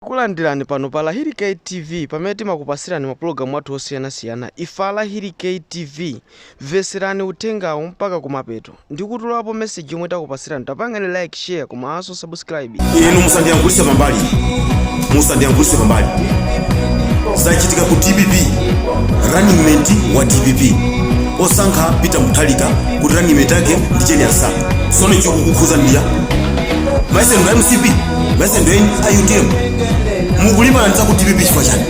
Tikukulandirani pano pa Lahiri K TV pamene timakupatsirani mapulogalamu athu osiyana siyana ife a Lahiri K TV mvetserani uthengawu mpaka kumapeto ndikutolapo message yomwe takupatsirani tapangani like share komanso subscribe. inu musandiyankhulise pambali musandiyankhulise pambali zachitika ku dpp running mate wa dpp wosankha peter mutharika kuti running mate wake ndi jane ansah sono chikukukhudzani amayi seni mcp bese ndoyi a utm mukulimbana ndi zaku dpp chifukwa chiyani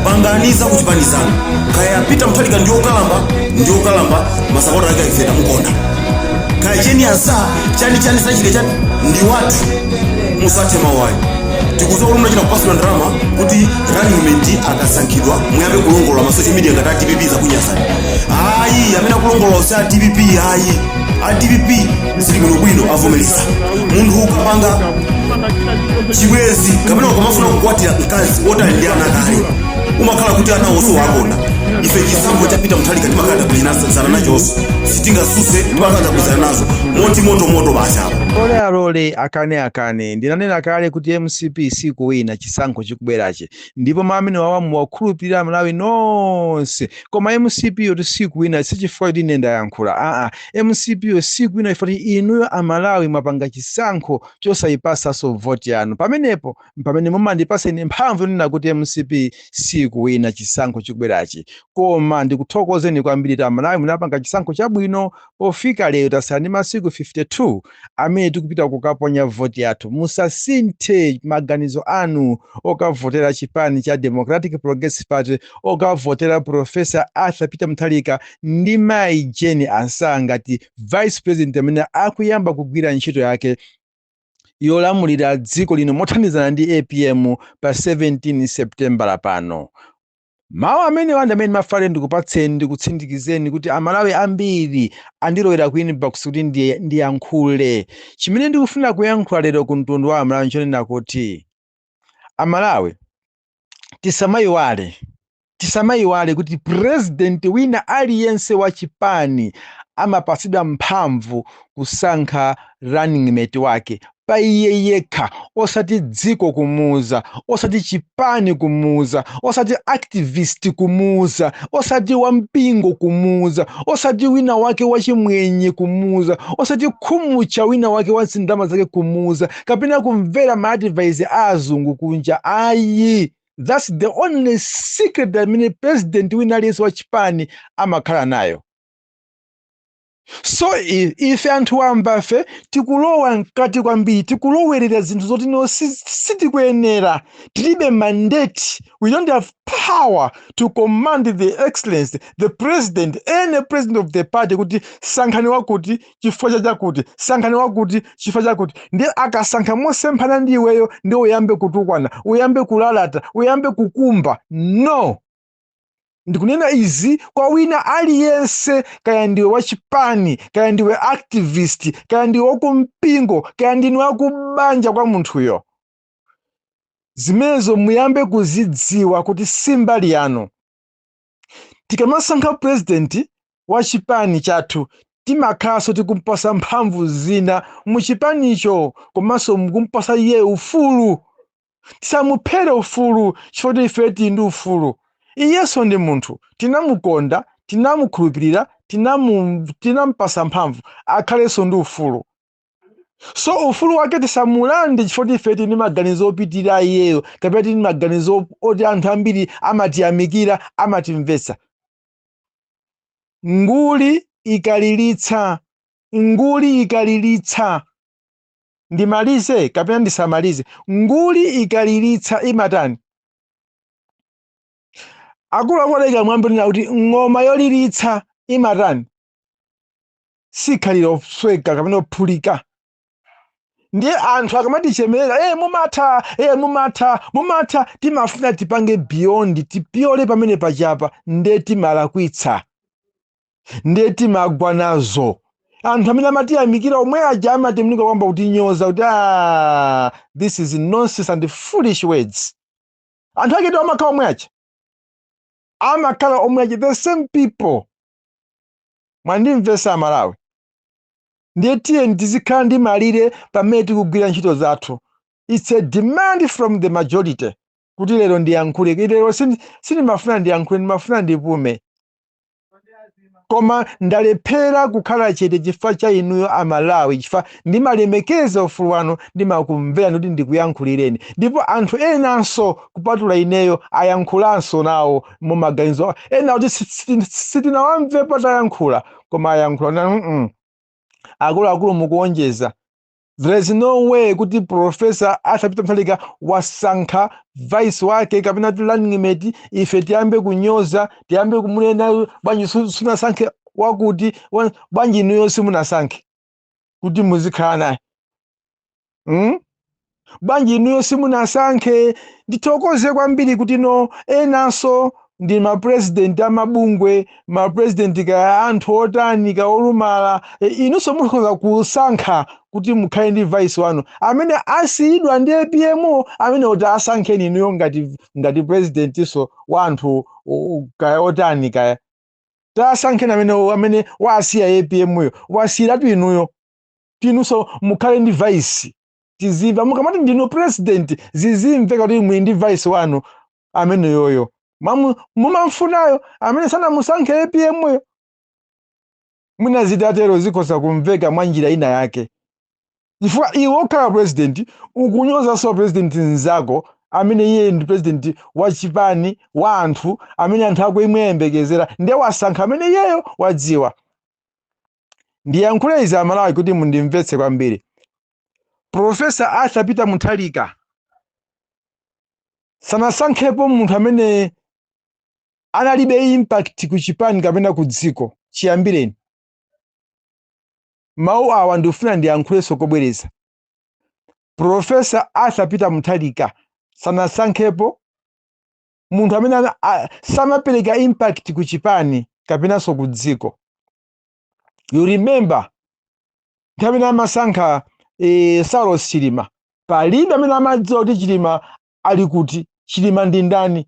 pangani zakuchipani zanu kaya peter mutharika ndi okalamba ndi okalamba masapota ake akeife tamukonda kaya jane ansah chani chani sachile chani ndi wathu musathe mawu ayo tikudziwa kuti munachita kupasula ndalama kuti running mate akasankhidwa muyambe kulongolola ma social media ngati a dpp zakunyasani ayi amene akulongolola si a dpp ayi a dpp zilibwino bwino avomereza munthu ukapanga chibwezi kapena ukamafuna kukwatira mkazi woti ali ndi ana kale umakhala kuti ana onse wakonda ife chisankho cha peter mutharika timakhala tagwirizana nachonso sitingatsutse timakhala tagwirizana nazo moti moto moto basi alole alole akane akane ndinanena kale kuti mcp sikuwina chisankho chikubwerachi ndipo mamene wawa muwakhulupirira amalawi nonse koma mcp yoti sikuwina sichifukwa kuti ine ndayankhula aa mcp yo sikuwina chifukwa choti inuyo amalawi mwapanga chisankho chosayipatsanso voti yanu pamenepo mpamene mumandipatsa ine mphamvu yonena kuti mcp sikuwina chisankho chikubwerachi koma ndikuthokozeni kwambiri kuti amalawi munapanga chisankho chabwino pofika lero tasala ndi masiku 52 amene tikupita kukaponya voti yathu musasinthe maganizo anu okavotera chipani cha democratic progressive party okavotera profesa arthur peter mutharika ndi mayi jane ansah ngati vice president amene akuyamba kugwira ntchito yake yolamulira dziko lino mothandizana ndi apm pa 17 september pano Mawu amenewa ndi amene ndimafuna ndikupatseni ndikutsindikizeni kuti Amalawi ambiri andilowera ku inbox kuti ndiyankhule. Chimene ndikufuna kuyankhula lero ku mtundu wa Amalawi nchonena kuti Amalawi tisamayiwale tisamayiwale kuti president wina aliyense wa chipani amapatsidwa mphamvu kusankha runningmate wake pa iye yekha osati dziko kumuuza osati chipani kumuuza osati activist kumuuza osati wampingo kumuuza osati wina wake wachimwenye kumuuza osati khumutcha wina wake wandalama zake kumuuza kapena kumvera ma advice a azungu kunja ayi thats the only secret amene president wina aliyense wa chipani amakhala nayo so i- ife anthu wambafe tikulowa mkati kwambiri tikulowerera zinthu zoti no si- sitikuyenera tilibe mandate we don't have power to command the excellency the president any president of the party kuti sankhani wakuti chifukwa cha chakuti sankhani wakuti chifukwa chakuti ndiye akasankha mosemphana ndi iweyo ndi uyambe kutukwana uyambe kulalata uyambe kukumba no ndikunena izi kwa wina aliyense kaya ndiwe wachipani kaya ndiwe activist kaya ndiwe wakumpingo kaya ndinu wakubanja kwa munthuyo zimenezo muyambe kuzidziwa kuti si mbali yanu tikamasankha purezidenti wa chipani chathu timakhalanso tikumpasa mphamvu zina mu chipanicho komanso mukumpasa iye ufulu tisamuphere ufulu chifukwa choti ife tili ndi ufulu iyenso ndi munthu tinamukonda tinamukhulupirira tinamu tinampasa mphamvu akhalenso ndi ufulu so ufulu wake tisamulande chifukwa choti ife tili ndi maganizo opitirira iyeyo kapena tili ndi maganizo oti anthu ambiri amatiyamikira amatimvetsa nguli ikaliritsa nguli ikaliritsa ndimalize kapena ndisamalize nguli ikaliritsa imatani akuluakulu adayika mwambi wonena kuti ng'oma yoliritsa imatani siikhalira kusweka kapena kuphulika ndiye anthu akamatichemerera e mumatha e mumatha mumatha timafuna tipange beyond tipyole pamene pachapa nde timalakwitsa ndiye timagwa nazo anthu amene amatiyamikira omwe aja amatembenuka kuyamba kutinyoza kuti "Ah, this is nonsense and foolish words anthu akewo amakhala omwe aja amakhala omwe aja the same people mwandimvetsa amalawi ndiye tiyeni tizikhala ndi malire pamene tikugwira ntchito zathu its a demand from the majority kuti lero ndiyankhule lero sindi- sindimafuna ndiyankhule ndimafuna ndipume koma ndalephera kukhala chete chifukwa cha inuyo amalawi chifukwa ndimalemekeza ufulu wanu ndimakumverani kuti ndikuyankhulireni ndipo anthu enanso kupatula ineyo ayankhulanso nawo mumaganizo ena oti si- si- sitinawamvepo atayankhula koma ayankhula kuti, "Mm-mm, akuluakulu mukuwonjeza there is no way kuti profesa Arthur Peter Mutharika wasankha vice wake kapena ti running mate ife tiyambe kunyoza tiyambe kumunena bwanji su- sunasankhe wakuti wa- bwanji inuyo simunasankhe kuti muzikhala naye mm? bwanji inuyo simunasankhe ndithokoze kwambiri kuti no enanso ndi mapurezidenti amabungwe mapurezidenti kaya anthu otani ka olumala e, inunso mukhoza kusankha kuti mukhale ndi vice wanu amene asiyidwa ndi apm yo amene kuti asankheni inuyo ngati ngati president nso wa anthu o- o- kaya otani kaya tasankheni amene amene wasiya apm yo wasiyiratu inuyo kuti inunso mukhale ndi vice tizimve mukamati ndinu president zizimveka kuti muli ndi vice wanu ameneyoyo Mamu- mumamfunayo amene sanamusankhe apm yo mwina zitatero zikhoza kumveka mwa njira ina yake chifukwa iwe okhala president ukunyozanso president mzako amene iye ndi president wa chipani wa anthu amene anthu akuyembekezera ndiye wasankha amene iyeyo wadziwa ndiyankhule izi amalawi kuti mundimvetse kwambiri profesa arthur peter muthalika sanasankhepo munthu amene analibe impact ku chipani kapena ku dziko chiyambireni mawu awa ndikufuna ndiyankhulenso kobwereza profesa arthur peter muthalika sanasankhepo munthu amene ana- a- sanapereka impact ku chipani kapenanso ku dziko you remember nthawi imene amasankha eh, saulos chilima palibe amene amadziwa kuti chilima ali kuti chilima ndi ndani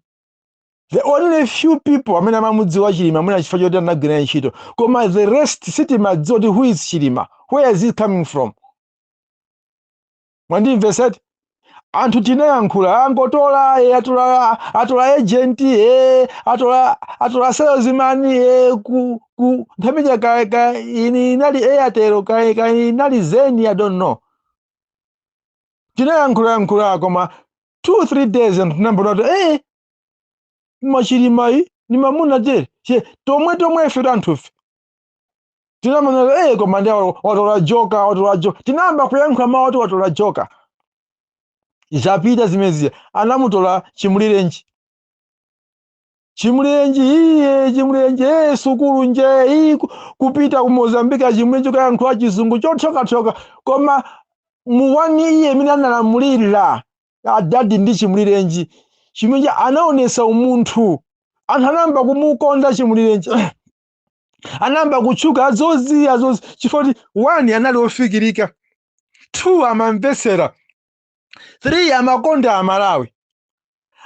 the only few people amene amamudziwa chilima mwina chifukwa choti anagwira ntchito koma the rest sitimadziwa kuti who is chilima where is he coming from mwandimvesa eti anthu tinayankhula angotola e atola atola agent e atola atola salesman e ku ku nthawi ija kaya kaya ini inali airtel kaya kaya inali zain i don't know tinayankhula yankhula koma two three days anthu tinayamba kuona kuti eh koma chilimayi ni mamuna je che tomwe tomwe ife anthufe tinamuona eh, koma ndi awo watola joka watola joka tinayamba kuyankhula mawu oti watola joka zapita zimenezija anamutola chimulirenji chimulirenji iye chimulirenji ee sukulu nje iyi ku- kupita ku mozambike achimulirenji akayankhula chizungu chothyokathyoka koma muwani iye mmene analamulira adadi ndi chimulirenji chimulirenji anaonesa umunthu anthu anayamba kumukonda chimulirenji anayamba kutchuka azozi azozi chifukwa choti one anali ofikirika two amamvetsera three amakonda amalawi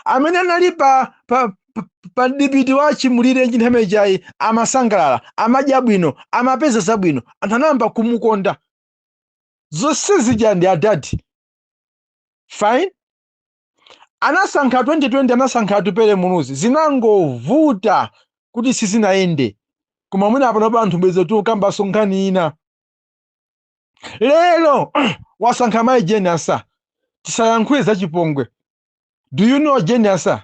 amene anali pa pa pa- pa dipiti wa chimulirenji nthawi ijayi amasangalala amadya bwino amapeza zabwino anthu anayamba kumukonda zonse zija ndi adadi fine anasankha 2020 anasankha atupele muluzi zinangovuta kuti sizinayende koma mwina apanopa anthu bwenzi tikukambanso nkhani ina lero wasankha mayi jane ansah tisayankhule za chipongwe do you know jane ansah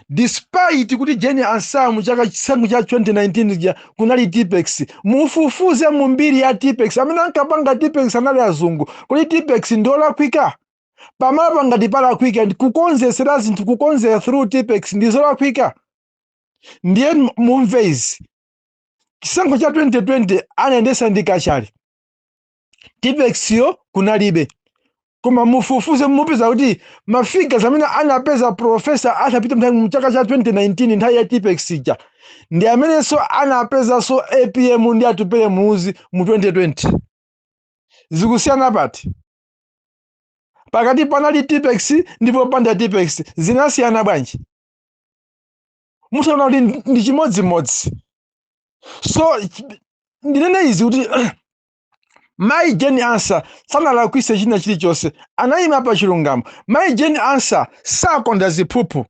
despite kuti jane ansah mu chaka chisankho cha 2019 ja kunali tipex mufufuze mu mbiri ya tipex amene ankapanga tipex anali azungu kodi tipex ndiolakwika pamalopo ngati palakwika kukonzetsera zinthu kukonzera through tipex ndi zolakwika ndiye m- mumve izi chisankho cha 2020 anayendesa ndi kachali tipexyo kunalibe koma mufufuze mupeza kuti ma figures amene anapeza professor arthur peter mutharika mu chaka cha 2019 nthawi ya tipex ija ndi amenenso anapezanso apm ndi atupele muluzi mu 2020 zikusiyana pati pakati panali tipex ndi popanda tipex zinasiyana bwanji mutha kuona kuti ndi- ndi chimodzimodzi so ch- ndinene izi kuti mai jane ansah sanalakwise china chilichonse anayima pa chilungamo mai jane ansah sakonda ziphuphu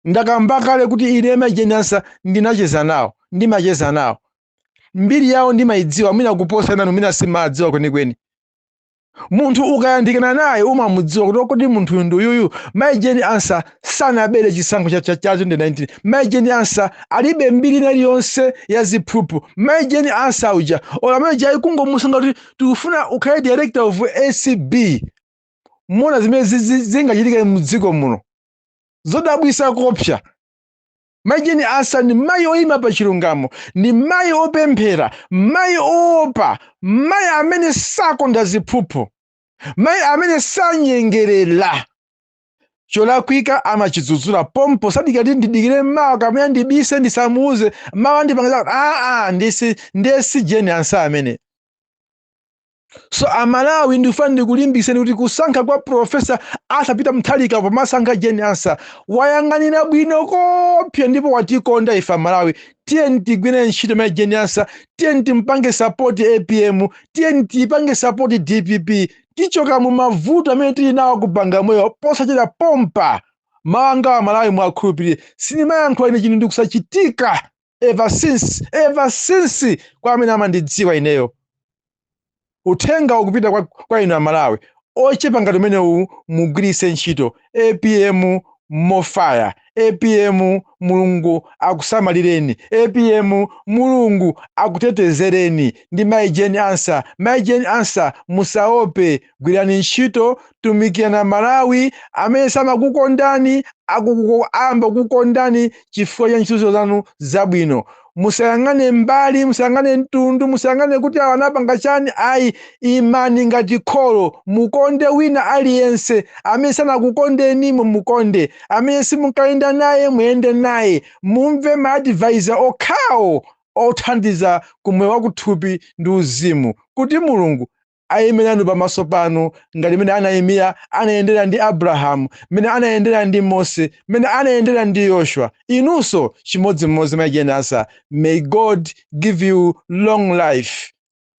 ndakamba kale kuti ine mai jane ansah ndinacheza nawo ndimacheza nawo mbiri yawo ndimayidziwa mwina kuposa enanu mwina simumawadziwa kwenikweni munthu ukayandikana naye umamudziwa kuti kodi munthuyu ndi uyuyu mai jane ansah sanabere chisankho cha, cha, cha 2019 mai jane ansah alibe mbiri ina iliyonse ya ziphuphu mai jane ansah uja olo amene uja kungomusankha kuti tikufuna ukhale director of acb muona zimene zi- zi- zingachitike mdziko muno zodabwisa kopsa Mayi Jane Ansah ndi mayi oyima pa chilungamo, ndi mayi opemphera, mayi oopa, mayi amene sakonda ziphuphu, mayi amene sanyengerera. Cholakwika amachidzudzula pompo, sadikira kuti ndidikire mawa kapena ndibise ndisamuuze, mawa ndipanga zakuti. Aa, ndi- ndiye si Jane Ansah ameneyo. so amalawi ndikufuna ndikulimbikitseni kuti kusankha kwa professor arthur peter mutharika pomasankha jane ansah wayang'anira bwino kopsa ndipo watikonda ife amalawi tiyeni tigwire ntchito mai jane ansah tiyeni timpange sapoti apm tiyeni tiyipange sapoti dpp tichoka mu mavuto amene tili nawo a ku bagamoyo posachedwa pompa mawu anga amalawi muwakhulupirire sindimayankhula ine chinthu ndikusachitika ever since ever since kwa amene amandidziwa ineyo uthenga ukupita kwa, kwa inu amalawi ochepa ngati umenewu mugwiritse ntchito apm more fire apm mulungu akusamalireni apm mulungu akutetezereni ndi mai jane ansah mai jane ansah musaope gwirani ntchito tumikirani malawi amene samakukondani akukuko- ayamba kukondani chifukwa cha ntchito zanu zabwino musayang'ane mbali musayang'ane mtundu musayang'ane kuti awa anapanga chani ayi imani ngati kholo mukonde wina aliyense amene sanakukondeni mumukonde amene simunkayenda naye muyende naye mumve ma advisor okhawo othandiza ku moyo wakuthupi ndi uzimu kuti mulungu aime nanu pamaso panu ngati mmene anaimira anayendera ndi abrahamu mmene anayendera ndi mose mmene anayendera ndi yoshua inunso chimodzimodzi mai jane ansah may god give you long life